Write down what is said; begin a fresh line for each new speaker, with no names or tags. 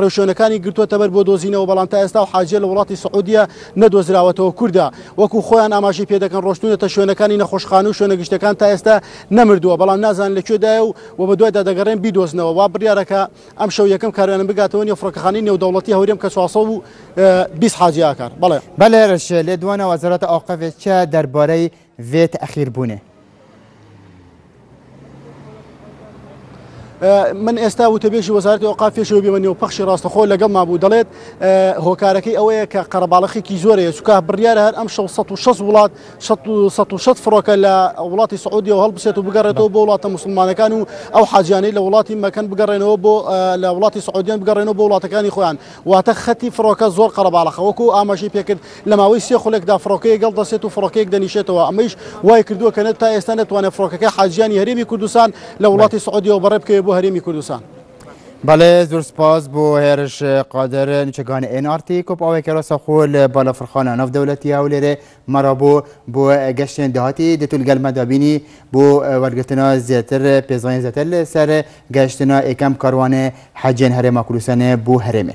ڕێوشوێنەکانی گرتووەتەبەر بۆ دۆزینەوە، بەڵام تا ئێستا ئەو حاجییە لە وڵاتی سعودیە نەدۆزراوەتەوە. کوردە وەکو خۆیان ئاماژەی پێدەکەن ڕۆشتوونەتە شوێنەکانی نەخۆشخانە و شوێنە گشتیەکان تا ئێستا نەمردووە، بەڵام نازانن لە کوێدایە و و بەدوایدا دەگەڕێن بیدۆزنەوە. وا بڕیارە کە ئەمشەو یەکەم کاروانم بگاتەوە نێو فڕۆکەخانەی نێودەوڵەتی هەورێم کە چوار سەد و بیست حاجی ئاکار. بەڵێ. بەلێ رەشێ،
لێدوانە وەزارەتە ئەوقەفێ چە دەربارەی ڤێ تەئخیر بونێ.
من ئێستا وتەبێژی وەزارەتی ئەوقاف پێشەوە بێمە نێو پەخشی ڕاستەخۆ لەگەڵ مابوو دەڵێت هۆکارەکەی ئەوەیە کە قەرەباڵەخێکی زۆرەیە چکە بڕیارە هەر ئەم 1600 وڵات 1600 فڕۆکە لە وڵاتی سعودی و هەڵبسێت و بگەڕێتەوە بۆ وڵاتە مسلمانەکان و ئەو حاجیانەی لە وڵاتی مەکەن بگەڕێنەوە بۆ لە وڵاتی سعودیان بگەڕێنەوە بۆ وڵاتەکانی خۆیان واتە خەتی فڕۆکە زۆر قەرەباڵەخە، وەکو ئاماژەی پێکرد لە ماوەی سێ خولەکدا فڕۆکەیەک هەڵدەستێت و فڕۆکەیەک دەنیشێتەوە، ئەمەیش وایکردووە کە نە تا ئێستا نەتوانێت فڕۆکەکە حاجییانی هەرێمی کوردستان لە وڵاتی سعودیەوە بەڕێ بکەوێت بۆ هەرێمی کوردستان. بەڵێ
زۆر سپاس بۆ هێرش قادر، نیچەکانی ئێن ئاڕ تی کۆپ ئاوێکەرە سەخۆ لە بالەفڕخانە ناو دەولەتی هەولێرێ مەڕەبۆ بۆ گەشتێن داهاتی دەتول گەل مە دابینی بۆ وەرگرتنا زێتر پێزانین زێتر لە سەر گەشتنا ئێکەم کاروانێ حەجێن هەرێما کوردستانێ بۆ هەرێمێ.